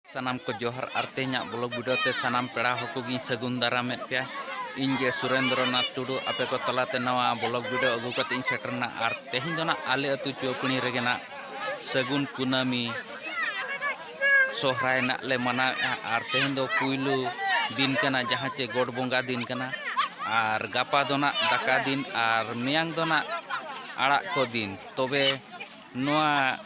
ᱥᱟᱱᱟᱢ ᱠᱚ ᱡᱚᱦᱟᱨ ᱟᱨ ᱛᱮᱦᱮᱧᱟᱜ ᱵᱞᱚᱜ ᱵᱷᱤᱰᱤᱭᱳ ᱛᱮ ᱥᱟᱱᱟᱢ ᱯᱮᱲᱟ ᱦᱚᱲ ᱠᱚᱜᱮᱧ ᱥᱟᱹᱜᱩᱱ ᱫᱟᱨᱟᱢᱮᱫ ᱯᱮᱭᱟ ᱤᱧ ᱜᱮ ᱥᱩᱨᱮᱱᱫᱨᱚ ᱱᱟᱛᱷ ᱴᱩᱰᱩ ᱟᱯᱮ ᱠᱚ ᱛᱟᱞᱟᱛᱮ ᱱᱟᱣᱟ ᱵᱞᱚᱜ ᱵᱷᱤᱰᱤᱭᱳ ᱟᱹᱜᱩ ᱠᱟᱛᱮ ᱤᱧ ᱥᱮᱴᱮᱨᱱᱟ ᱟᱨ ᱛᱮᱦᱮᱧ ᱫᱚ ᱱᱟᱜ ᱟᱞᱮ ᱟᱹᱛᱩ ᱪᱩᱣᱟᱹᱯᱤᱬᱤ ᱨᱮᱜᱮ ᱱᱟᱜ ᱥᱟᱹᱜᱩᱱ ᱠᱩᱱᱟᱹᱢᱤ ᱥᱚᱦᱨᱟᱭ ᱱᱟᱜ ᱞᱮ ᱢᱟᱱᱟᱣᱮᱫᱼᱟ ᱟᱨ ᱛᱮᱦᱮᱧ ᱫᱚ ᱯᱩᱭᱞᱩ ᱫᱤᱱ ᱠᱟᱱᱟ ᱡᱟᱦᱟᱸ ᱪᱮ ᱜᱚᱰ ᱵᱚᱸᱜᱟ ᱫᱤᱱ ᱠᱟᱱᱟ ᱟᱨ ᱜᱟᱯᱟ ᱫᱚ ᱱᱟᱜ ᱫᱟᱠᱟ ᱫᱤᱱ ᱟᱨ ᱢᱮᱭᱟᱝ ᱫᱚ ᱱᱟᱜ ᱟᱲᱟᱜ ᱠᱚ ᱫᱤᱱ ᱛᱚᱵᱮ ᱱᱚᱣᱟ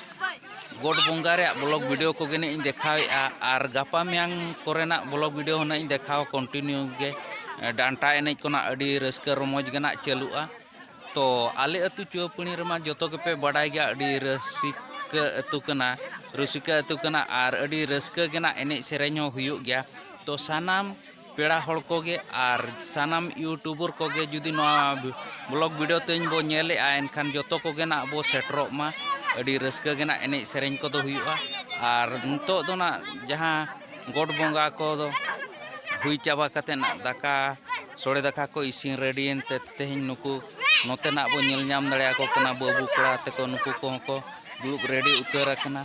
ᱜᱚᱰ ᱵᱚᱸᱜᱟ ᱨᱮᱭᱟᱜ ᱵᱞᱚᱜ ᱵᱷᱤᱰᱤᱭᱳ ᱠᱚᱜᱮ ᱱᱟᱜ ᱤᱧ ᱫᱮᱠᱷᱟᱣᱮᱫᱼᱟ ᱟᱨ ᱜᱟᱯᱟ ᱢᱮᱭᱟᱝ ᱠᱚᱨᱮᱱᱟᱜ ᱵᱞᱚᱜ ᱵᱷᱤᱰᱤᱭᱳ ᱦᱚᱸ ᱱᱟᱜ ᱤᱧ ᱫᱮᱠᱷᱟᱣᱟ ᱠᱚᱱᱴᱤᱱᱤᱭᱩ ᱜᱮ ᱰᱟᱱᱴᱟ ᱮᱱᱮᱡ ᱠᱚ ᱱᱟᱜ ᱟᱹᱰᱤ ᱨᱟᱹᱥᱠᱟᱹ ᱨᱚᱢᱚᱡᱽ ᱜᱮ ᱱᱟᱜ ᱪᱟᱹᱞᱩᱜᱼᱟ ᱛᱚ ᱟᱞᱮ ᱟᱹᱛᱩ ᱪᱩᱣᱟᱹᱯᱟᱹᱲᱤ ᱨᱮᱢᱟ ᱡᱚᱛᱚ ᱜᱮᱯᱮ ᱵᱟᱰᱟᱭ ᱜᱮᱭᱟ ᱟᱹᱰᱤ ᱨᱟᱹᱥᱤᱠᱟᱹ ᱟᱹᱛᱩ ᱠᱟᱱᱟ ᱨᱩᱥᱤᱠᱟ ᱟᱹᱛᱩ ᱠᱟᱱᱟ ᱟᱨ ᱟᱹᱰᱤ ᱨᱟᱹᱥᱠᱟᱹ ᱜᱮ ᱱᱟᱜ ᱮᱱᱮᱡ ᱥᱮᱨᱮᱧ ᱦᱚᱸ ᱦᱩᱭᱩᱜ ᱜᱮᱭᱟ ᱛᱚ ᱥᱟᱱᱟᱢ ᱯᱮᱲᱟ ᱦᱚᱲ ᱠᱚᱜᱮ ᱟᱨ ᱥᱟᱱᱟᱢ ᱤᱭᱩᱴᱩᱵᱚᱨ ᱠᱚᱜᱮ ᱡᱩᱫᱤ ᱱᱚᱣᱟ ᱵᱞᱚᱜ ᱵᱷᱤᱰᱤᱭᱳ ᱛᱮᱧ ᱵᱚ ᱧᱮᱞᱮᱜᱼᱟ ᱮᱱᱠᱷᱟᱱ ᱡᱚᱛᱚ ᱠᱚᱜᱮ ᱱᱟᱜ ᱵᱚ ᱥᱮᱴᱮᱨᱚᱜ ᱢᱟ ᱟᱹᱰᱤ ᱨᱟᱹᱥᱠᱟᱹ ᱜᱮ ᱱᱟᱜ ᱮᱱᱮᱡ ᱥᱮᱨᱮᱧ ᱠᱚᱫᱚ ᱦᱩᱭᱩᱜᱼᱟ ᱟᱨ ᱱᱤᱛᱚᱜ ᱫᱚ ᱱᱟᱜ ᱡᱟᱦᱟᱸ ᱜᱚᱰ ᱵᱚᱸᱜᱟ ᱠᱚᱫᱚ ᱦᱩᱭ ᱪᱟᱵᱟ ᱠᱟᱛᱮᱫ ᱱᱟᱜ ᱫᱟᱠᱟ ᱥᱚᱲᱮ ᱫᱟᱠᱟ ᱠᱚ ᱤᱥᱤᱱ ᱨᱮᱰᱤᱭᱮᱱ ᱛᱮ ᱛᱮᱦᱮᱧ ᱱᱩᱠᱩ ᱱᱚᱛᱮ ᱱᱟᱜ ᱵᱚ ᱧᱮᱞ ᱧᱟᱢ ᱫᱟᱲᱮᱭᱟᱠᱚ ᱠᱟᱱᱟ ᱵᱟᱹᱵᱩ ᱠᱚᱲᱟ ᱛᱮᱠᱚ ᱱᱩᱠᱩ ᱠᱚᱦᱚᱸ ᱠᱚ ᱫᱩᱲᱩᱵ ᱨᱮᱰᱤ ᱩᱛᱟᱹᱨ ᱟᱠᱟᱱᱟ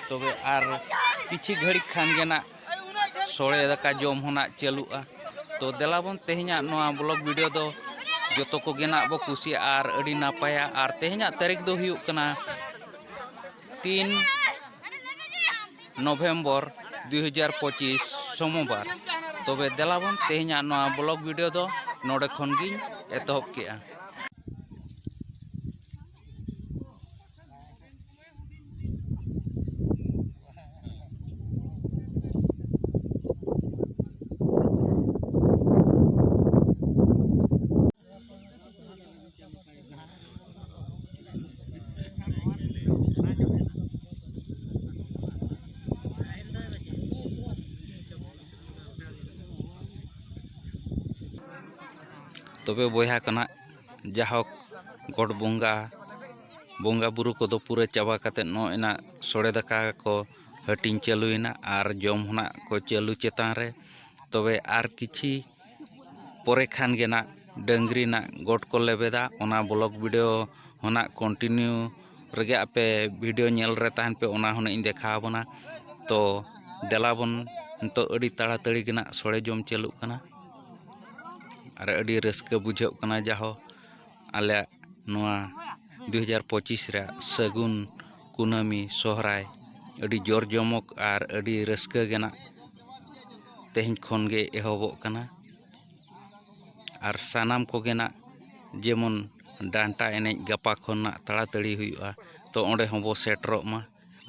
ᱛᱚᱵᱮ ᱟᱨ ᱠᱤᱪᱷᱩ ᱜᱷᱟᱹᱲᱤᱡ ᱠᱷᱟᱱ ᱜᱮ ᱱᱟᱜ ᱥᱚᱲᱮ ᱫᱟᱠᱟ ᱡᱚᱢ ᱦᱚᱸ ᱱᱟᱜ ᱪᱟᱹᱞᱩᱜᱼᱟ ᱛᱚ ᱫᱮᱞᱟ ᱵᱚᱱ ᱛᱮᱦᱮᱧᱟᱜ ᱱᱚᱣᱟ ᱵᱞᱚᱜ ᱵᱷᱤᱰᱤᱭᱳ ᱫᱚ ᱡᱚᱛᱚ ᱠᱚᱜᱮ ᱱᱟᱜ ᱵᱚ ᱠᱩᱥᱤᱭᱟᱜᱼᱟ ᱟᱨ ᱟᱹᱰᱤ ᱱᱟᱯᱟᱭᱟ ᱟᱨ ᱛᱮᱦᱮᱧᱟᱜ ᱛᱟᱹᱨᱤᱠᱷ ᱫᱚ ᱦᱩᱭᱩᱜ ᱠᱟᱱᱟ ᱛᱤᱱ ᱱᱚᱵᱷᱮᱢᱵᱚᱨ ᱫᱩᱭ ᱦᱟᱡᱟᱨ ᱯᱚᱸᱪᱤᱥ ᱥᱳᱢᱚᱵᱟᱨ ᱛᱚᱵᱮ ᱫᱮᱞᱟ ᱵᱚᱱ ᱛᱮᱦᱮᱧᱟᱜ ᱱᱚᱣᱟ ᱵᱞᱚᱜ ᱵᱷᱤᱰᱤᱭᱳ ᱫᱚ ᱱᱚᱰᱮ ᱠᱷᱚᱱ ᱜᱤᱧ ᱮᱛᱚᱦᱚᱵ ᱠᱮᱜᱼᱟ ᱛᱚᱵᱮ ᱵᱚᱭᱦᱟ ᱠᱟᱱᱟ ᱡᱟᱭᱦᱳᱠ ᱜᱚᱰ ᱵᱚᱸᱜᱟ ᱵᱚᱸᱜᱟ ᱵᱩᱨᱩ ᱠᱚᱫᱚ ᱯᱩᱨᱟᱹ ᱪᱟᱵᱟ ᱠᱟᱛᱮᱫ ᱱᱚᱜᱼᱚᱭ ᱱᱟᱜ ᱥᱚᱲᱮ ᱫᱟᱠᱟ ᱠᱚ ᱦᱟᱹᱴᱤᱧ ᱪᱟᱹᱞᱩᱭᱮᱱᱟ ᱟᱨ ᱡᱚᱢ ᱦᱚᱸ ᱱᱟᱜ ᱠᱚ ᱪᱟᱹᱞᱩ ᱪᱮᱛᱟᱱ ᱨᱮ ᱛᱚᱵᱮ ᱟᱨ ᱠᱤᱪᱷᱤ ᱯᱚᱨᱮ ᱠᱷᱟᱱ ᱜᱮ ᱱᱟᱜ ᱰᱟᱹᱝᱨᱤ ᱱᱟᱜ ᱜᱚᱴ ᱠᱚ ᱞᱮᱵᱮᱫᱟ ᱚᱱᱟ ᱵᱞᱚᱠ ᱵᱷᱤᱰᱤᱭᱳ ᱦᱚᱸ ᱱᱟᱜ ᱠᱚᱱᱴᱤᱱᱤᱭᱩ ᱨᱮᱜᱮ ᱟᱯᱮ ᱵᱷᱤᱰᱤᱭᱳ ᱧᱮᱞ ᱨᱮ ᱛᱟᱦᱮᱱ ᱯᱮ ᱚᱱᱟ ᱦᱚᱸ ᱱᱟᱜ ᱤᱧ ᱫᱮᱠᱷᱟᱣ ᱟᱵᱚᱱᱟ ᱛᱚ ᱫᱮᱞᱟ ᱵᱚᱱ ᱱᱤᱛᱚᱜ ᱟᱹᱰᱤ ᱛᱟᱲᱟᱛᱟᱹᱲᱤ ᱜᱮ ᱱᱟᱜ ᱥᱚᱲᱮ ᱡᱚᱢ ᱪᱟᱹᱞᱩᱜ ᱠᱟᱱᱟ ᱟᱨ ᱟᱹᱰᱤ ᱨᱟᱹᱥᱠᱟᱹ ᱵᱩᱡᱷᱟᱹᱜ ᱠᱟᱱᱟ ᱡᱟᱦᱳᱠ ᱟᱞᱮᱭᱟᱜ ᱱᱚᱣᱟ ᱫᱩ ᱦᱟᱡᱟᱨ ᱯᱚᱸᱪᱤᱥ ᱨᱮᱭᱟᱜ ᱥᱟᱹᱜᱩᱱ ᱠᱩᱱᱟᱹᱢᱤ ᱥᱚᱦᱨᱟᱭ ᱟᱹᱰᱤ ᱡᱚᱨ ᱡᱚᱢᱚᱠ ᱟᱨ ᱟᱹᱰᱤ ᱨᱟᱹᱥᱠᱟᱹ ᱨᱮᱱᱟᱜ ᱛᱮᱦᱮᱧ ᱠᱷᱚᱱ ᱜᱮ ᱮᱦᱚᱵᱚᱜ ᱠᱟᱱᱟ ᱟᱨ ᱥᱟᱱᱟᱢ ᱠᱚᱜᱮ ᱦᱟᱸᱜ ᱡᱮᱢᱚᱱ ᱰᱟᱱᱴᱟ ᱮᱱᱮᱡ ᱜᱟᱯᱟ ᱠᱷᱚᱱᱟᱜ ᱛᱟᱲᱟᱛᱟᱹᱲᱤ ᱦᱩᱭᱩᱜᱼᱟ ᱛᱚ ᱚᱸᱰᱮ ᱦᱚᱸᱵᱚᱱ ᱥᱮᱴᱮᱨᱚᱜ ᱢᱟ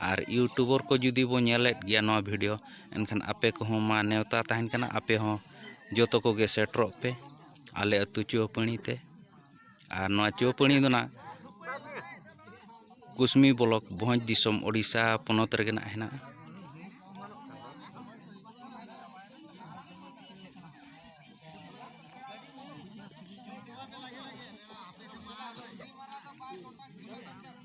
ᱟᱨ ᱤᱭᱩᱴᱩᱵᱚᱨ ᱠᱚ ᱡᱩᱫᱤ ᱵᱚᱱ ᱧᱮᱞᱮᱫ ᱜᱮᱭᱟ ᱱᱚᱣᱟ ᱵᱷᱤᱰᱤᱭᱳ ᱮᱱᱠᱷᱟᱱ ᱟᱯᱮ ᱠᱚᱦᱚᱸ ᱢᱟ ᱱᱮᱣᱛᱟ ᱛᱟᱦᱮᱱ ᱠᱟᱱᱟ ᱟᱯᱮ ᱦᱚᱸ ᱡᱚᱛᱚ ᱠᱚᱜᱮ ᱥᱮᱴᱮᱨᱚᱜ ᱯᱮ ᱟᱞᱮ ᱟᱹᱛᱩ ᱪᱩᱣᱟᱹᱯᱟᱹᱲᱤ ᱛᱮ ᱟᱨ ᱱᱚᱣᱟ ᱪᱩᱣᱟᱹᱯᱟᱹᱲᱤ ᱫᱚ ᱦᱟᱸᱜ ᱠᱩᱥᱢᱤ ᱵᱞᱚᱠ ᱵᱷᱚᱸᱡᱽ ᱫᱤᱥᱚᱢ ᱳᱰᱤᱥᱟ ᱯᱚᱱᱚᱛ ᱨᱮᱜᱮ ᱦᱟᱸᱜ ᱦᱮᱱᱟᱜᱼᱟ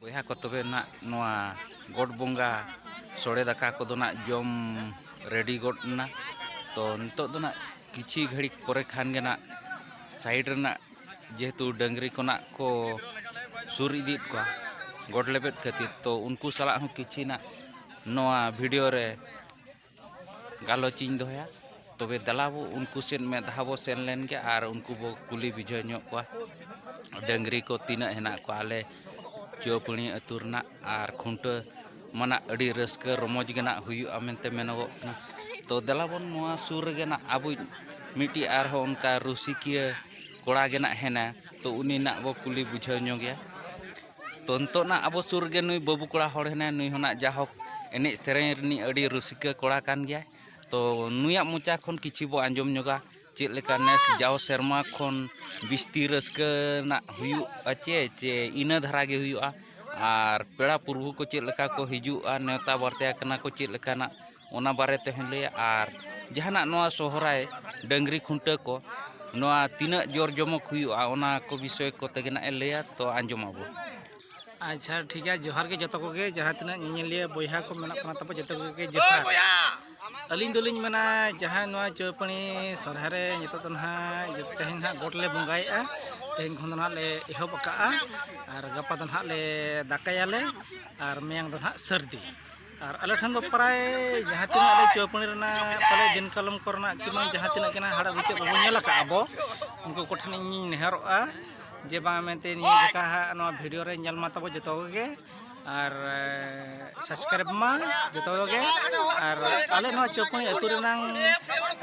ᱵᱚᱭᱦᱟ ᱠᱚ ᱛᱚᱵᱮ ᱱᱟᱜ ᱱᱚᱣᱟ ᱜᱚᱰ ᱵᱚᱸᱜᱟ ᱥᱚᱲᱮ ᱫᱟᱠᱟ ᱠᱚᱫᱚ ᱱᱟᱜ ᱡᱚᱢ ᱨᱮᱰᱤ ᱜᱚᱫ ᱮᱱᱟ ᱛᱚ ᱱᱤᱛᱚᱜ ᱫᱚ ᱱᱟᱜ ᱠᱤᱪᱷᱤ ᱜᱷᱟᱹᱲᱤᱡ ᱯᱚᱨᱮ ᱠᱷᱟᱱ ᱜᱮ ᱱᱟᱜ ᱥᱟᱭᱤᱰ ᱨᱮᱱᱟᱜ ᱡᱮᱦᱮᱛᱩ ᱰᱟᱹᱝᱨᱤ ᱠᱷᱚᱱᱟᱜ ᱠᱚ ᱥᱩᱨ ᱤᱫᱤᱭᱮᱫ ᱠᱚᱣᱟ ᱜᱚᱰ ᱞᱮᱵᱮᱫ ᱠᱷᱟᱹᱛᱤᱨ ᱛᱚ ᱩᱱᱠᱩ ᱥᱟᱞᱟᱜ ᱦᱚᱸ ᱠᱤᱪᱷᱤ ᱱᱟᱜ ᱱᱚᱣᱟ ᱵᱷᱤᱰᱤᱭᱳ ᱨᱮ ᱜᱟᱞᱚᱪ ᱤᱧ ᱫᱚᱦᱚᱭᱟ ᱛᱚᱵᱮ ᱫᱮᱞᱟ ᱵᱚ ᱩᱱᱠᱩ ᱥᱮᱫ ᱢᱮᱫ ᱫᱷᱟᱣ ᱵᱚ ᱥᱮᱱ ᱞᱮᱱ ᱜᱮ ᱟᱨ ᱩᱱᱠᱩ ᱵᱚ ᱠᱩᱞᱤ ᱵᱩᱡᱷᱟᱹᱣ ᱧᱚᱜ ᱠᱚᱣᱟ ᱰᱟᱹᱝᱨᱤ ᱠᱚ ᱛᱤᱱᱟᱹᱜ ᱦᱮᱱᱟᱜ ᱠᱚᱣᱟ ᱟᱞᱮ ᱪᱩᱣᱟᱹᱯᱟᱹᱲᱤ ᱟᱹᱛᱩ ᱨᱮᱱᱟᱜ ᱟᱨ ᱠᱷᱩᱱᱴᱟᱹᱣ ᱢᱟᱱᱟᱜ ᱟᱹᱰᱤ ᱨᱟᱹᱥᱠᱟᱹ ᱨᱚᱢᱚᱡᱽ ᱜᱮ ᱱᱟᱜ ᱦᱩᱭᱩᱜᱼᱟ ᱢᱮᱱᱛᱮ ᱢᱮᱱᱚᱜᱚᱜ ᱠᱟᱱᱟ ᱛᱚ ᱫᱮᱞᱟ ᱵᱚᱱ ᱱᱚᱣᱟ ᱥᱩᱨ ᱨᱮᱜᱮ ᱱᱟᱜ ᱟᱵᱚᱭᱤᱡ ᱢᱤᱫᱴᱤᱡ ᱟᱨᱦᱚᱸ ᱚᱱᱠᱟ ᱨᱩᱥᱤᱠᱤᱭᱟᱹ ᱠᱚᱲᱟ ᱜᱮ ᱱᱟᱜ ᱦᱮᱱᱟ ᱛᱚ ᱩᱱᱤ ᱱᱟᱜ ᱵᱚ ᱠᱩᱞᱤ ᱵᱩᱡᱷᱟᱹᱣ ᱧᱚᱜᱮᱭᱟ ᱛᱚ ᱱᱤᱛᱚᱜ ᱱᱟᱜ ᱟᱵᱚ ᱥᱩᱨ ᱨᱮᱜᱮ ᱱᱩᱭ ᱵᱟᱹᱵᱩ ᱠᱚᱲᱟ ᱦᱚᱲ ᱦᱮᱱᱟᱭ ᱱᱩᱭ ᱦᱚᱸ ᱱᱟᱜ ᱡᱟᱦᱳᱠ ᱮᱱᱮᱡ ᱥᱮᱨᱮᱧ ᱨᱤᱱᱤᱡ ᱟᱹᱰᱤ ᱨᱩᱥᱤᱠᱟᱹ ᱠᱚᱲᱟ ᱠᱟᱱ ᱜᱮᱭᱟᱭ ᱛᱚ ᱱᱩᱭᱟᱜ ᱢᱚᱪᱟ ᱠᱷᱚᱱ ᱠᱤᱪᱷᱩ ᱵᱚ ᱟᱸᱡᱚᱢ ᱧᱚᱜᱟ ᱪᱮᱫ ᱞᱮᱠᱟ ᱱᱮᱥ ᱡᱟᱣ ᱥᱮᱨᱢᱟ ᱠᱷᱚᱱ ᱵᱤᱥᱛᱤ ᱨᱟᱹᱥᱠᱟᱹ ᱨᱮᱱᱟᱜ ᱦᱩᱭᱩᱜᱼᱟ ᱪᱮ ᱪᱮ ᱤᱱᱟᱹ ᱫᱷᱟᱨᱟ ᱜᱮ ᱦᱩᱭᱩᱜᱼᱟ ᱟᱨ ᱯᱮᱲᱟ ᱯᱩᱨᱵᱷᱩ ᱠᱚ ᱪᱮᱫ ᱞᱮᱠᱟ ᱠᱚ ᱦᱤᱡᱩᱜᱼᱟ ᱱᱮᱣᱛᱟ ᱵᱟᱨᱛᱮ ᱟᱠᱟᱱᱟ ᱠᱚ ᱪᱮᱫ ᱞᱮᱠᱟᱱᱟᱜ ᱚᱱᱟ ᱵᱟᱨᱮ ᱛᱮᱦᱚᱸᱭ ᱞᱟᱹᱭᱟ ᱟᱨ ᱡᱟᱦᱟᱱᱟᱜ ᱱᱚᱣᱟ ᱥᱚᱦᱨᱟᱭ ᱰᱟᱹᱝᱨᱤ ᱠᱷᱩᱱᱴᱟᱹᱣ ᱠᱚ ᱱᱚᱣᱟ ᱛᱤᱱᱟᱹᱜ ᱡᱚᱨ ᱡᱚᱢᱚᱠ ᱦᱩᱭᱩᱜᱼᱟ ᱚᱱᱟ ᱠᱚ ᱵᱤᱥᱚᱭ ᱠᱚᱛᱮ ᱜᱮ ᱱᱟᱜᱼᱮ ᱞᱟᱹᱭᱟ ᱛᱚ ᱟᱸᱡᱚᱢ ᱟᱵᱚᱱ ᱟᱪᱪᱷᱟ ᱴᱷᱤᱠ ᱜᱮᱭᱟ ᱡᱚᱦᱟᱨ ᱜᱮ ᱡᱚᱛᱚ ᱠᱚᱜᱮ ᱡᱟᱦᱟᱸ ᱛᱤᱱᱟᱹᱜ ᱧᱮᱧᱮᱞᱤᱭᱟᱹ ᱵᱚᱭᱦᱟ ᱠᱚ ᱢᱮᱱᱟᱜ ᱠᱚ ᱛᱟᱵᱚᱱᱟ ᱡᱚᱛᱚ ᱠᱚᱜᱮ ᱡᱚᱦᱟᱨ ᱟᱹᱞᱤᱧ ᱫᱚᱞᱤᱧ ᱢᱮᱱᱟ ᱡᱟᱦᱟᱸ ᱱᱚᱣᱟ ᱪᱳᱯᱟᱹᱱᱤ ᱥᱚᱨᱦᱟᱭ ᱨᱮ ᱱᱤᱛᱚᱜ ᱫᱚ ᱱᱟᱦᱟᱜ ᱛᱮᱦᱮᱧ ᱱᱟᱦᱟᱜ ᱜᱚᱴ ᱞᱮ ᱵᱚᱸᱜᱟᱭᱮᱫᱼᱟ ᱛᱮᱦᱮᱧ ᱠᱷᱚᱱ ᱫᱚ ᱱᱟᱦᱟᱜ ᱞᱮ ᱮᱦᱚᱵ ᱟᱠᱟᱫᱼᱟ ᱟᱨ ᱜᱟᱯᱟ ᱫᱚ ᱱᱟᱦᱟᱜ ᱞᱮ ᱫᱟᱠᱟᱭᱟᱞᱮ ᱟᱨ ᱢᱮᱭᱟᱝ ᱫᱚ ᱱᱟᱦᱟᱜ ᱥᱟᱹᱨᱫᱤ ᱟᱨ ᱟᱞᱮ ᱴᱷᱮᱱ ᱫᱚ ᱯᱨᱟᱭ ᱡᱟᱦᱟᱸ ᱛᱤᱱᱟᱹᱜ ᱟᱞᱮ ᱪᱳᱯᱟᱹᱱᱤ ᱨᱮᱱᱟᱜ ᱯᱟᱞᱮ ᱫᱤᱱ ᱠᱟᱞᱚᱢ ᱠᱚᱨᱮᱱᱟᱜ ᱠᱤᱢᱵᱟ ᱡᱟᱦᱟᱸ ᱛᱤᱱᱟᱹᱜ ᱜᱮ ᱱᱟᱦᱟᱜ ᱦᱟᱲᱟᱜ ᱵᱤᱪᱟᱹᱜ ᱵᱟᱵᱚᱱ ᱧᱮᱞ ᱟᱠᱟᱫ ᱟᱵᱚ ᱩᱱᱠᱩ ᱠᱚᱴᱷᱮᱱ ᱤᱧᱤᱧ ᱱᱮᱦᱚᱨᱚᱜᱼᱟ ᱡᱮ ᱵᱟᱝ ᱢᱮᱱᱛᱮ ᱱᱤᱭᱟᱹ ᱡᱚᱠᱷᱟᱜ ᱱᱚᱣᱟ ᱵᱷᱤᱰᱤᱭᱳ ᱨᱮ ᱧᱮᱞ ᱢᱟ ᱛᱟᱵᱚ ᱡᱚᱛᱚ ᱠᱚᱜᱮ ᱟᱨ ᱥᱟᱵᱥᱠᱨᱟᱭᱤᱵ ᱢᱟ ᱡᱚᱛᱚ ᱜᱮ ᱟᱨ ᱟᱞᱮ ᱱᱚᱣᱟ ᱪᱚᱯᱩᱱᱤ ᱟᱹᱛᱩ ᱨᱮᱱᱟᱝ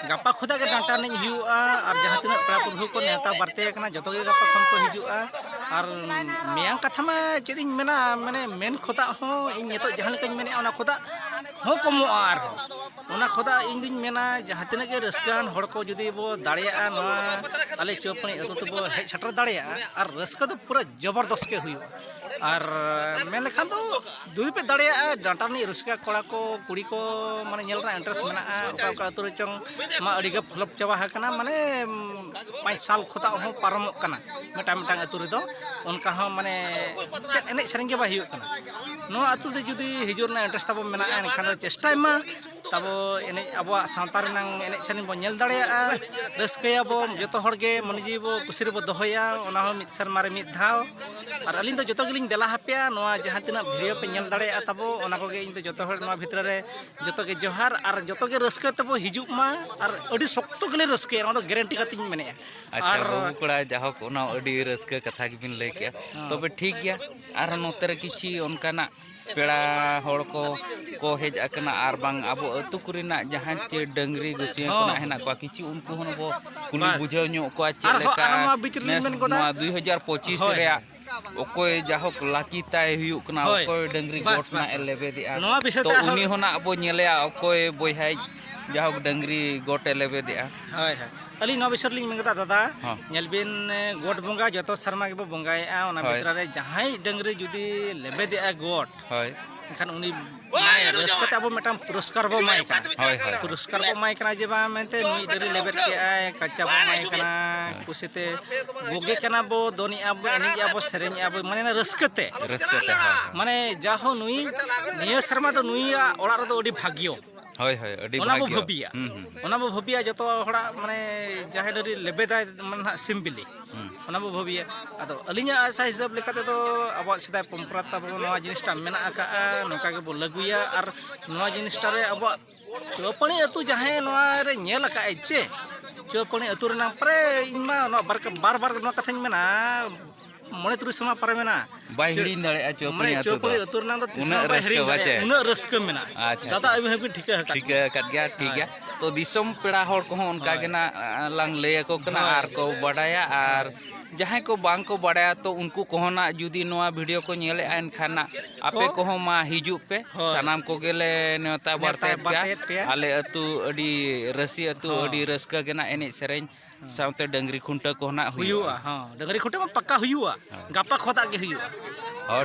ᱜᱟᱯᱟ ᱠᱷᱚᱱᱟᱜ ᱜᱮ ᱰᱟᱱᱴᱟ ᱮᱱᱮᱡ ᱦᱩᱭᱩᱜᱼᱟ ᱟᱨ ᱡᱟᱦᱟᱸ ᱛᱤᱱᱟᱹᱜ ᱯᱮᱲᱟ ᱯᱩᱨᱵᱷᱩ ᱠᱚ ᱱᱮᱣᱛᱟ ᱵᱟᱨᱛᱮ ᱟᱠᱟᱱᱟ ᱡᱚᱛᱚ ᱜᱮ ᱜᱟᱯᱟ ᱠᱷᱚᱱ ᱠᱚ ᱦᱤᱡᱩᱜᱼᱟ ᱟᱨ ᱢᱮᱭᱟᱝ ᱠᱟᱛᱷᱟ ᱢᱟ ᱪᱮᱫ ᱤᱧ ᱢᱮᱱᱟ ᱢᱟᱱᱮ ᱢᱮᱱ ᱠᱷᱚᱫᱟᱜ ᱦᱚᱸ ᱤᱧ ᱱᱤᱛᱚᱜ ᱡᱟᱦᱟᱸ ᱞᱮᱠᱟᱧ ᱢᱮᱱᱮᱫᱼᱟ ᱚᱱᱟ ᱠᱷᱚᱫᱟᱜ ᱦᱚᱸ ᱠᱚᱢᱚᱜᱼᱟ ᱟᱨᱦᱚᱸ ᱚᱱᱟ ᱠᱷᱚᱫᱟᱜ ᱤᱧ ᱫᱩᱧ ᱢᱮᱱᱟ ᱡᱟᱦᱟᱸ ᱛᱤᱱᱟᱹᱜ ᱜᱮ ᱨᱟᱹᱥᱠᱟᱹᱣᱟᱱ ᱦᱚᱲ ᱠᱚ ᱡᱩᱫᱤ ᱵᱚ ᱫᱟᱲᱮᱭᱟᱜᱼᱟ ᱱᱚᱣᱟ ᱟᱞᱮ ᱪᱚᱯᱩᱱᱤ ᱟᱹᱛᱩ ᱛᱮᱵᱚ ᱦᱮᱡ ᱥᱮᱴᱮᱨ ᱫᱟᱲᱮᱭᱟᱜᱼᱟ ᱟᱨ ᱨᱟᱹᱥᱠᱟᱹ ᱫᱚ ᱯᱩᱨᱟᱹ ᱡᱚᱵᱚᱨᱫᱚᱥᱛ ᱜᱮ ᱦᱩᱭᱩᱜᱼᱟ ᱟᱨ ᱢᱮᱱ ᱞᱮᱠᱷᱟᱱ ᱫᱚ ᱡᱩᱫᱤ ᱯᱮ ᱫᱟᱲᱮᱭᱟᱜᱼᱟ ᱰᱟᱱᱴᱟ ᱨᱤᱱᱤᱡ ᱨᱟᱹᱥᱠᱟᱹ ᱠᱚᱲᱟ ᱠᱚ ᱠᱩᱲᱤ ᱠᱚ ᱢᱟᱱᱮ ᱧᱮᱞ ᱨᱮᱱᱟᱜ ᱤᱱᱴᱟᱨᱮᱥᱴ ᱢᱮᱱᱟᱜᱼᱟ ᱚᱠᱟ ᱚᱠᱟ ᱟᱹᱛᱩ ᱨᱮ ᱪᱚᱝ ᱢᱟ ᱟᱹᱰᱤ ᱜᱮ ᱯᱷᱞᱚᱯ ᱪᱟᱵᱟ ᱟᱠᱟᱱᱟ ᱢᱟᱱᱮ ᱯᱟᱸᱪ ᱥᱟᱞ ᱠᱷᱚᱛᱟᱜ ᱦᱚᱸ ᱯᱟᱨᱚᱢᱚᱜ ᱠᱟᱱᱟ ᱢᱤᱫᱴᱟᱝ ᱢᱤᱫᱴᱟᱝ ᱟᱹᱛᱩ ᱨᱮᱫᱚ ᱚᱱᱠᱟ ᱦᱚᱸ ᱢᱟᱱᱮ ᱪᱮᱫ ᱮᱱᱮᱡ ᱥᱮᱨᱮᱧ ᱜᱮ ᱵᱟᱭ ᱦᱩᱭᱩᱜ ᱠᱟᱱᱟ ᱱᱚᱣᱟ ᱟᱹᱛᱩ ᱨᱮ ᱡᱩᱫᱤ ᱦᱤᱡᱩᱜ ᱨᱮᱱᱟᱜ ᱤᱱᱴᱟᱨᱮᱥᱴ ᱛᱟᱵᱚᱱ ᱢᱮᱱᱟᱜᱼᱟ ᱮᱱᱠᱷᱟᱱ ᱫᱚ ᱪᱮᱥᱴᱟᱭ ᱢᱟ ᱛᱟᱵᱚ ᱮᱱᱮᱡ ᱟᱵᱚᱣᱟᱜ ᱥᱟᱶᱛᱟ ᱨᱮᱱᱟᱝ ᱮᱱᱮᱡ ᱥᱮᱨᱮᱧ ᱵᱚᱱ ᱧᱮᱞ ᱫᱟᱲᱮᱭᱟᱜᱼᱟ ᱨᱟᱹᱥᱠᱟᱹᱭᱟᱵᱚ ᱡᱚᱛᱚ ᱦᱚᱲᱜᱮ ᱢᱚᱱᱮ ᱡᱤᱣᱤ ᱵᱚ ᱠᱩᱥᱤ ᱨᱮᱵᱚ ᱫᱚᱦᱚᱭᱟ ᱚᱱᱟ ᱦᱚᱸ ᱢᱤᱫ ᱥᱮᱨᱢᱟ ᱨᱮ ᱢᱤᱫ ᱫᱷᱟᱣ ᱟᱨ ᱟᱹᱞᱤᱧ ᱫᱚ ᱡᱚᱛᱚ ᱜᱮᱞᱤᱧ ᱫᱮᱞᱟ ᱦᱟᱯᱮᱭᱟ ᱱᱚᱣᱟ ᱡᱟᱦᱟᱸ ᱛᱤᱱᱟᱹᱜ ᱵᱷᱤᱰᱤᱭᱳ ᱯᱮ ᱧᱮᱞ ᱫᱟᱲᱮᱭᱟᱜᱼᱟ ᱛᱟᱵᱚ ᱚᱱᱟ ᱠᱚᱜᱮ ᱤᱧ ᱫᱚ ᱡᱚᱛᱚ ᱦᱚᱲ ᱱᱚᱣᱟ ᱵᱷᱤᱛᱨᱤ ᱨᱮ ᱡᱚᱛᱚ ᱜᱮ ᱡᱚᱦᱟᱨ ᱟᱨ ᱡᱚᱛᱚ ᱜᱮ ᱨᱟᱹᱥᱠᱟᱹ ᱛᱮᱵᱚ ᱦᱤᱡᱩᱜ ᱢᱟ ᱟᱨ ᱟᱹᱰᱤ ᱥᱚᱠᱛᱚ ᱜᱮᱞᱮ ᱨᱟᱹᱥᱠᱟᱹᱭᱟ ᱱᱚᱣᱟ ᱫᱚ ᱜᱮᱨᱮᱱᱴᱤ ᱠᱟᱛᱮ ᱤᱧ ᱢᱮᱱᱮᱜᱼᱟ ᱟᱪᱪᱷᱟ ᱵᱟᱹᱵᱩ ᱠᱚᱲᱟ ᱡᱟᱦᱳᱠ ᱚᱱᱟ ᱟᱹᱰᱤ ᱨᱟᱹᱥᱠᱟᱹ ᱠᱟᱛᱷᱟ ᱜᱮᱵᱤᱱ ᱞᱟᱹᱭ ᱠᱮᱜᱼᱟ ᱛᱚᱵᱮ ᱴᱷᱤᱠ ᱜᱮᱭᱟ ᱟᱨ ᱱᱚᱛᱮ ᱨᱮ ᱠᱤᱪᱷᱤ ᱚᱱᱠᱟᱱᱟᱜ ᱯᱮᱲᱟ ᱦᱚᱲ ᱠᱚ ᱠᱚ ᱦᱮᱡ ᱟᱠᱟᱱᱟ ᱟᱨ ᱵᱟᱝ ᱟᱵᱚ ᱟᱹᱛᱩ ᱠᱚᱨᱮᱱᱟᱜ ᱡᱟᱦᱟᱸ ᱪᱮ ᱰᱟᱹᱝᱨᱤ ᱜᱩᱥᱤᱭᱟᱹ ᱠᱚᱱᱟᱜ ᱦᱮᱱᱟᱜ ᱠᱚᱣᱟ ᱠᱤᱪᱷᱩ ᱩᱱᱠᱩ ᱦᱚᱸ ᱵᱚ ᱠᱩᱞᱤ ᱵᱩᱡᱷᱟᱹᱣ ᱧᱚᱜ ᱠᱚᱣᱟ ᱪᱮᱫ ᱞᱮᱠᱟ ᱱᱮᱥ ᱱᱚᱣᱟ ᱫᱩᱭ ᱦᱟᱡᱟᱨ ᱯᱚᱸᱪᱤᱥ ᱨᱮᱭᱟᱜ ᱚᱠᱚᱭ ᱡᱟᱦᱳᱠ ᱞᱟᱠᱤ ᱛᱟᱭ ᱦᱩᱭᱩᱜ ᱠᱟᱱᱟ ᱚᱠᱚᱭ ᱰᱟᱹᱝᱨᱤ ᱜᱚᱴ ᱱᱟᱜ ᱮ ᱞᱮᱵᱮᱫᱮᱜᱼᱟ ᱛᱚ ᱩᱱᱤ ᱦᱚᱸ ᱱᱟᱜ ᱵᱚ ᱧᱮᱞᱮᱭᱟ ᱚᱠᱚᱭ ᱵᱚᱭᱦᱟᱭ ᱡᱟᱦᱳᱠ ᱰᱟᱹᱝᱨᱤ ᱜᱚᱴ ᱮ ᱞᱮᱵᱮᱫᱮᱜᱼᱟ ᱦᱳᱭ ᱦᱳᱭ ᱟᱹᱞᱤᱧ ᱱᱚᱣᱟ ᱵᱤᱥᱚᱭ ᱨᱮᱞᱤᱧ ᱢᱮᱱ ᱠᱮᱫᱟ ᱫᱟᱫᱟ ᱦᱚᱸ᱾ ᱧᱮᱞ ᱵᱤᱱ ᱮ, ᱜᱚᱴ ᱵᱚᱸᱜᱟ ᱡᱚᱛᱚ ᱥᱮᱨᱢᱟ ᱜᱮᱵᱚ ᱵᱚᱸᱜᱟᱭᱮᱫᱼᱟ ᱚᱱᱟ ᱦᱳᱭ᱾ ᱵᱷᱤᱛᱨᱤ ᱨᱮ ᱡᱟᱦᱟᱸᱭ ᱰᱟᱹᱝᱨᱤ ᱡᱩᱫᱤ ᱞᱮᱵᱮᱫᱮᱜᱼᱟ ᱜᱚᱴ ᱦᱳᱭ ᱮᱱᱠᱷᱟᱱ ᱩᱱᱤ ᱨᱟᱹᱥᱠᱟᱹ ᱛᱮ ᱟᱵᱚ ᱢᱤᱫᱴᱟᱝ ᱯᱩᱨᱚᱥᱠᱟᱨ ᱵᱚ ᱮᱢᱟᱭ ᱠᱟᱱᱟ ᱦᱳᱭ ᱦᱳᱭ ᱯᱩᱨᱚᱥᱠᱟᱨ ᱵᱚ ᱮᱢᱟᱭ ᱠᱟᱱᱟ ᱡᱮ ᱵᱟᱝ ᱢᱮᱱᱛᱮ ᱱᱩᱭ ᱰᱟᱹᱝᱨᱤ ᱞᱮᱵᱮᱫ ᱠᱮᱜᱼᱟᱭ ᱠᱟᱪᱟ ᱵᱚ ᱮᱢᱟᱭ ᱠᱟᱱᱟ ᱠᱩᱥᱤᱛᱮ ᱵᱩᱜᱮ ᱠᱟᱱᱟ ᱵᱚ ᱫᱚᱱᱮᱜᱼᱟ ᱵᱚ ᱮᱱᱮᱡᱮᱜᱼᱟ ᱵᱚ ᱥᱮᱨᱮᱧᱮᱜᱼᱟ ᱵᱚ ᱢᱟᱱᱮ ᱨᱟᱹᱥᱠᱟᱹ ᱛᱮ ᱨᱟᱹᱥᱠᱟᱹ ᱛᱮ ᱦᱳᱭ ᱢᱟᱱᱮ ᱡᱟᱦᱳ ᱱᱩᱭ ᱱᱤᱭᱟᱹ ᱥᱮᱨᱢᱟ ᱫᱚ ᱱᱩᱭᱟᱜ ᱚᱲᱟᱜ ᱨᱮᱫᱚ ᱟᱹᱰᱤ ᱵᱷᱟᱜᱽᱭᱚ ᱦᱳᱭ ᱦᱳᱭ ᱟᱹᱰᱤ ᱚᱱᱟ ᱵᱚ ᱵᱷᱟᱹᱵᱤᱭᱟ ᱚᱱᱟ ᱵᱚ ᱵᱷᱟᱹᱵᱤᱭᱟ ᱡᱚᱛᱚ ᱦᱚᱲᱟᱜ ᱢᱟᱱᱮ ᱡᱟᱦᱮᱨ ᱟᱹᱨᱤ ᱞᱮᱵᱮᱫᱟᱭ ᱢᱟᱱᱮ ᱱᱟᱦᱟᱜ ᱥᱤᱢ ᱵᱤᱞᱤ ᱚᱱᱟ ᱵᱚ ᱵᱷᱟᱹᱵᱤᱭᱟ ᱟᱫᱚ ᱟᱹᱞᱤᱧᱟᱜ ᱟᱥᱟ ᱦᱤᱥᱟᱹᱵ ᱞᱮᱠᱟ ᱛᱮᱫᱚ ᱟᱵᱚᱣᱟᱜ ᱥᱮᱫᱟᱭ ᱯᱚᱨᱚᱢᱯᱚᱨᱟ ᱛᱟᱵᱚ ᱱᱚᱣᱟ ᱡᱤᱱᱤᱥᱴᱟ ᱢᱮᱱᱟᱜ ᱟᱠᱟᱜᱼᱟ ᱱᱚᱝᱠᱟ ᱜᱮᱵᱚ ᱞᱟᱹᱜᱩᱭᱟ ᱟᱨ ᱱᱚᱣᱟ ᱡᱤᱱᱤᱥᱴᱟ ᱨᱮ ᱟᱵᱚᱣᱟᱜ ᱪᱩᱣᱟᱹᱯᱟᱹᱲᱤ ᱟᱹᱛᱩ ᱡᱟᱦᱟᱸᱭ ᱱᱚᱣᱟ ᱨᱮ ᱧᱮᱞ ᱟᱠᱟᱫᱼᱟᱭ ᱪᱮ ᱪᱩᱣᱟᱹᱯᱟᱹᱲᱤ ᱟᱹᱛᱩ ᱨᱮᱱᱟᱜ ᱯᱨᱟᱭ ᱤᱧᱢᱟ ᱱᱚᱣᱟ ᱵᱟᱨ ᱵᱟᱨ ᱱᱚᱣᱟ ᱠᱟᱛᱷᱟᱧ ᱢᱮᱱᱟ ᱢᱚᱬᱮ ᱛᱩᱨᱩᱭ ᱥᱮᱨᱢᱟ ᱯᱟᱨᱮ ᱢᱮᱱᱟᱜᱼᱟ ᱵᱟᱭ ᱦᱤᱲᱤᱧ ᱫᱟᱲᱮᱭᱟᱜᱼᱟ ᱪᱚᱯᱲᱤ ᱟᱹᱛᱩ ᱪᱚᱯᱲᱤ ᱟᱹᱛᱩ ᱨᱮᱱᱟᱜ ᱫᱚ ᱛᱤᱥ ᱵᱟᱭ ᱦᱤᱲᱤᱧ ᱫᱟᱲᱮᱭᱟᱜᱼᱟ ᱩᱱᱟᱹᱜ ᱨᱟᱹᱥᱠᱟᱹ ᱢᱮᱱᱟᱜᱼᱟ ᱟᱪᱪᱷᱟ ᱫᱟᱫᱟ ᱟᱹᱵᱤᱱ ᱦᱚᱸᱵᱤᱱ ᱴᱷᱤᱠᱟᱹ ᱟᱠᱟᱫ ᱴᱷᱤᱠᱟᱹ ᱟᱠᱟᱫ ᱜᱮᱭᱟ ᱴᱷᱤᱠ ᱜᱮᱭᱟ ᱛᱚ ᱫᱤᱥᱚᱢ ᱯᱮᱲᱟ ᱦᱚᱲ ᱠᱚᱦᱚᱸ ᱚᱱᱠᱟ ᱜᱮ ᱱᱟᱜ ᱞᱟᱝ ᱞᱟᱹᱭ ᱟᱠᱚ ᱠᱟᱱᱟ ᱟᱨ ᱠᱚ ᱵᱟᱰᱟᱭᱟ ᱟᱨ ᱡᱟᱦᱟᱸᱭ ᱠᱚ ᱵᱟᱝ ᱠᱚ ᱵᱟᱰᱟᱭᱟ ᱛᱚ ᱩᱱᱠᱩ ᱠᱚᱦᱚᱸ ᱱᱟᱜ ᱡᱩᱫᱤ ᱱᱚᱣᱟ ᱵᱷᱤᱰᱤᱭᱳ ᱠᱚ ᱧᱮᱞᱮᱜᱼᱟ ᱮᱱᱠᱷᱟᱱ ᱱᱟᱜ ᱟᱯᱮ ᱠᱚᱦᱚᱸ ᱢᱟ ᱦᱤᱡᱩᱜ ᱯᱮ ᱥᱟᱱᱟᱢ ᱠᱚᱜᱮ ᱞᱮ ᱱᱮᱣᱛᱟ ᱵᱟᱨᱛᱮᱭᱮᱫ ᱯᱮᱭᱟ ᱟᱞᱮ ᱟᱹᱛᱩ ᱟᱹᱰᱤ ᱨᱟᱹᱥᱤ ᱟᱹᱛᱩ ᱟᱹᱰᱤ ᱨᱟᱹᱥᱠᱟᱹ ᱜᱮ ᱱᱟᱜ ᱮᱱᱮᱡ ᱥᱮᱨᱮᱧ ᱥᱟᱶᱛᱮ ᱰᱟᱹᱝᱨᱤ ᱠᱷᱩᱱᱴᱟᱹᱣ ᱠᱚ ᱱᱟᱜ ᱦᱩᱭᱩᱜᱼᱟ ᱦᱚᱸ ᱰᱟᱹᱝᱨᱤ ᱠᱷᱩᱱᱴᱟᱹᱣ ᱢᱟ ᱯᱟᱠᱟ ᱦᱩᱭᱩᱜᱼᱟ ᱜᱟᱯᱟ ᱠᱷᱚᱫᱟᱜ ᱜᱮ ᱦᱩᱭᱩᱜᱼᱟ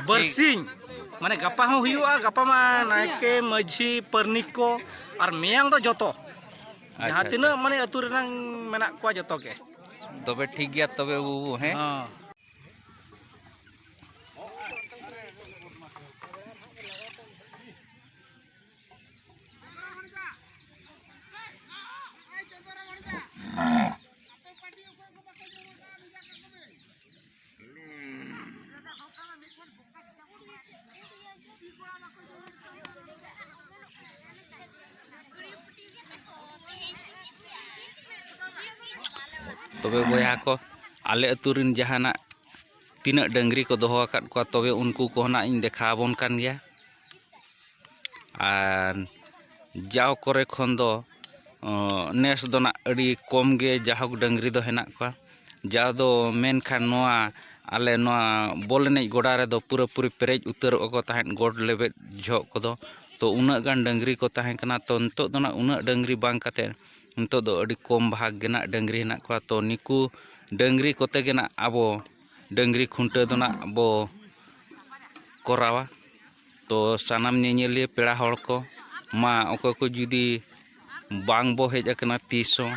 ᱵᱟᱹᱨᱥᱤᱧ ᱢᱟᱱᱮ ᱜᱟᱯᱟ ᱦᱚᱸ ᱦᱩᱭᱩᱜᱼᱟ ᱜᱟᱯᱟ ᱢᱟ ᱱᱟᱭᱠᱮ ᱢᱟᱹᱡᱷᱤ ᱯᱟᱨᱱᱤᱠ ᱠᱚ ᱟᱨ ᱢᱮᱭᱟᱝ ᱫᱚ ᱡᱚᱛᱚ ᱡᱟᱦᱟᱸ ᱛᱤᱱᱟᱹᱜ ᱢᱟᱱᱮ ᱟᱹᱛᱩ ᱨᱮᱱᱟᱝ ᱢᱮᱱᱟᱜ ᱠᱚᱣᱟ ᱡᱚᱛᱚ ᱜᱮ ᱛᱚᱵᱮ ᱴᱷᱤᱠ ᱜᱮᱭᱟ ᱛᱚᱵᱮ ᱵᱟᱹᱵᱩ ᱦᱮᱸ ᱛᱚᱵᱮ ᱵᱚᱭᱦᱟ ᱠᱚ ᱟᱞᱮ ᱟᱹᱛᱩ ᱨᱮᱱ ᱡᱟᱦᱟᱱᱟᱜ ᱛᱤᱱᱟᱹᱜ ᱰᱟᱹᱝᱨᱤ ᱠᱚ ᱫᱚᱦᱚ ᱟᱠᱟᱫ ᱠᱚᱣᱟ ᱛᱚᱵᱮ ᱩᱱᱠᱩ ᱠᱚᱦᱚᱸ ᱱᱟᱜ ᱤᱧ ᱫᱮᱠᱷᱟᱣ ᱟᱵᱚᱱ ᱠᱟᱱ ᱜᱮᱭᱟ ᱟᱨ ᱡᱟᱣ ᱠᱚᱨᱮ ᱠᱷᱚᱱ ᱫᱚ ᱱᱮᱥ ᱫᱚ ᱱᱟᱜ ᱟᱹᱰᱤ ᱠᱚᱢ ᱜᱮ ᱡᱟᱭᱦᱳᱠ ᱰᱟᱹᱝᱨᱤ ᱫᱚ ᱦᱮᱱᱟᱜ ᱠᱚᱣᱟ ᱡᱟᱣ ᱫᱚ ᱢᱮᱱᱠᱷᱟᱱ ᱱᱚᱣᱟ ᱟᱞᱮ ᱱᱚᱣᱟ ᱵᱚᱞ ᱮᱱᱮᱡ ᱜᱚᱰᱟ ᱨᱮᱫᱚ ᱯᱩᱨᱟᱹᱯᱩᱨᱤ ᱯᱮᱨᱮᱡ ᱩᱛᱟᱹᱨᱚᱜᱼᱟ ᱠᱚ ᱛᱟᱦᱮᱸᱫ ᱜᱚᱴ ᱞᱮᱵᱮᱫ ᱡᱚᱦᱚᱜ ᱠᱚᱫᱚ ᱛᱳ ᱩᱱᱟᱹᱜ ᱜᱟᱱ ᱰᱟᱹᱝᱨᱤ ᱠᱚ ᱛᱟᱦᱮᱸ ᱠᱟᱱᱟ ᱛᱳ ᱱᱤᱛᱚᱜ ᱫᱚ ᱱᱟᱜ ᱩᱱᱟᱹᱜ ᱰᱟᱹᱝᱨᱤ ᱵᱟᱝ ᱠᱟᱛᱮᱫ ᱱᱤᱛᱚᱜ ᱫᱚ ᱟᱹᱰᱤ ᱠᱚᱢ ᱵᱷᱟᱜᱽ ᱜᱮ ᱱᱟᱜ ᱰᱟᱹᱝᱨᱤ ᱦᱮᱱᱟᱜ ᱠᱚᱣᱟ ᱛᱳ ᱱᱩᱠᱩ ᱰᱟᱹᱝᱨᱤ ᱠᱚᱛᱮ ᱜᱮ ᱱᱟᱜ ᱟᱵᱚ ᱰᱟᱹᱝᱨᱤ ᱠᱷᱩᱱᱴᱟᱹᱣ ᱫᱚ ᱱᱟᱜ ᱵᱚ ᱠᱚᱨᱟᱣᱟ ᱛᱚ ᱥᱟᱱᱟᱢ ᱧᱮᱧᱮᱞᱤᱭᱟᱹ ᱯᱮᱲᱟ ᱦᱚᱲ ᱠᱚ ᱢᱟ ᱚᱠᱚᱭ ᱠᱚ ᱡᱩᱫᱤ ᱵᱟᱝ ᱵᱚ ᱦᱮᱡ ᱟᱠᱟᱱᱟ ᱛᱤᱥ ᱦᱚᱸ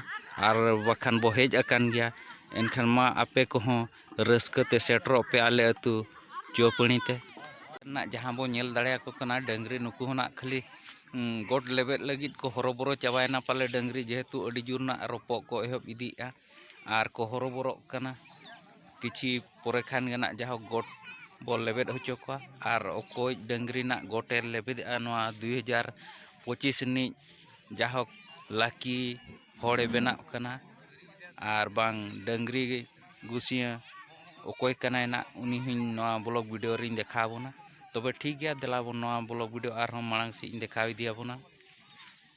ᱟᱨ ᱵᱟᱠᱷᱟᱱ ᱵᱚ ᱦᱮᱡ ᱟᱠᱟᱱ ᱜᱮᱭᱟ ᱮᱱᱠᱷᱟᱱ ᱢᱟ ᱟᱯᱮ ᱠᱚᱦᱚᱸ ᱨᱟᱹᱥᱠᱟᱹ ᱛᱮ ᱥᱮᱴᱮᱨᱚᱜ ᱯᱮ ᱟᱞᱮ ᱟᱹᱛᱩ ᱪᱩᱣᱟᱹᱯᱟᱹᱲᱤ ᱛᱮ ᱱᱟᱜ ᱡᱟᱦᱟᱸ ᱵᱚ ᱧᱮᱞ ᱫᱟᱲᱮᱭᱟᱠᱚ ᱠᱟᱱᱟ ᱰᱟᱹᱝᱨᱤ ᱱᱩᱠᱩ ᱦᱚᱸ ᱱᱟᱜ ᱠᱷᱟᱹᱞᱤ ᱜᱚᱴ ᱞᱮᱵᱮᱫ ᱞᱟᱹᱜᱤᱫ ᱠᱚ ᱦᱚᱨᱚᱵᱚᱨᱚ ᱪᱟᱵᱟᱭᱮᱱᱟ ᱯᱟᱞᱮ ᱰᱟᱹᱝᱨᱤ ᱡᱮᱦᱮᱛᱩ ᱟᱹᱰᱤ ᱡᱳᱨ ᱱᱟᱜ ᱨᱚᱯᱚᱜ ᱠᱚ ᱮᱦᱚᱵ ᱤᱫᱤᱭᱮᱜᱼᱟ ᱟᱨ ᱠᱚ ᱦᱚᱨᱚᱵᱚᱨᱚᱜ ᱠᱟᱱᱟ ᱠᱤᱪᱷᱤ ᱯᱚᱨᱮ ᱠᱷᱟᱱ ᱜᱮ ᱱᱟᱜ ᱡᱟᱦᱳᱠ ᱜᱚᱴ ᱵᱚᱱ ᱞᱮᱵᱮᱫ ᱦᱚᱪᱚ ᱠᱚᱣᱟ ᱟᱨ ᱚᱠᱚᱭ ᱰᱟᱹᱝᱨᱤ ᱱᱟᱜ ᱜᱚᱴᱮ ᱞᱮᱵᱮᱫᱮᱜᱼᱟ ᱱᱚᱣᱟ ᱫᱩ ᱦᱟᱡᱟᱨ ᱯᱚᱸᱪᱤᱥ ᱨᱤᱱᱤᱡ ᱡᱟᱦᱳᱠ ᱞᱟᱹᱠᱤ ᱦᱚᱲᱮ ᱵᱮᱱᱟᱜ ᱠᱟᱱᱟ ᱟᱨ ᱵᱟᱝ ᱰᱟᱹᱝᱨᱤ ᱜᱩᱥᱤᱭᱟᱹ ᱚᱠᱚᱭ ᱠᱟᱱᱟᱭ ᱱᱟᱜ ᱩᱱᱤ ᱦᱚᱧ ᱱᱚᱣᱟ ᱵᱞᱚᱜᱽ ᱵᱷᱤᱰᱤᱭᱳ ᱨᱤᱧ ᱫᱮᱠᱷᱟᱣ ᱵᱚᱱᱟ ᱛᱚᱵᱮ ᱴᱷᱤᱠ ᱜᱮᱭᱟ ᱫᱮᱞᱟ ᱵᱚᱱ ᱱᱚᱣᱟ ᱵᱞᱚᱜᱽ ᱵᱷᱤᱰᱤᱭᱳ ᱟᱨᱦᱚᱸ ᱢᱟᱲᱟᱝ ᱥᱮᱫ ᱤᱧ ᱫᱮᱠᱷᱟᱣ ᱤᱫᱤᱭᱟᱵᱚᱱᱟ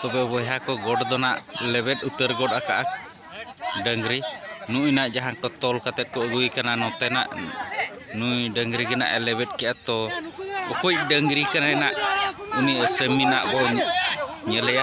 ᱛᱚᱵᱮ ᱵᱚᱭᱦᱟ ᱠᱚ ᱜᱚᱰ ᱫᱚ ᱱᱟᱜ ᱞᱮᱵᱮᱫ ᱩᱛᱟᱹᱨ ᱜᱚᱫ ᱟᱠᱟᱜᱼᱟ ᱰᱟᱹᱝᱨᱤ ᱱᱩᱭ ᱱᱟᱜ ᱡᱟᱦᱟᱸ ᱠᱚ ᱛᱚᱞ ᱠᱟᱛᱮᱫ ᱠᱚ ᱟᱹᱜᱩᱭ ᱠᱟᱱᱟ ᱱᱚᱛᱮᱱᱟᱜ ᱱᱩᱭ ᱰᱟᱹᱝᱨᱤ ᱜᱮ ᱱᱟᱜ ᱮ ᱞᱮᱵᱮᱫ ᱠᱮᱜᱼᱟ ᱛᱚ ᱚᱠᱚᱭ ᱰᱟᱹᱝᱨᱤ ᱠᱟᱱᱟᱭ ᱱᱟᱜ ᱩᱱᱤ ᱟᱹᱥᱟᱹᱢᱤ ᱱᱟᱜ ᱵᱚ ᱧᱮᱞᱮᱭᱟ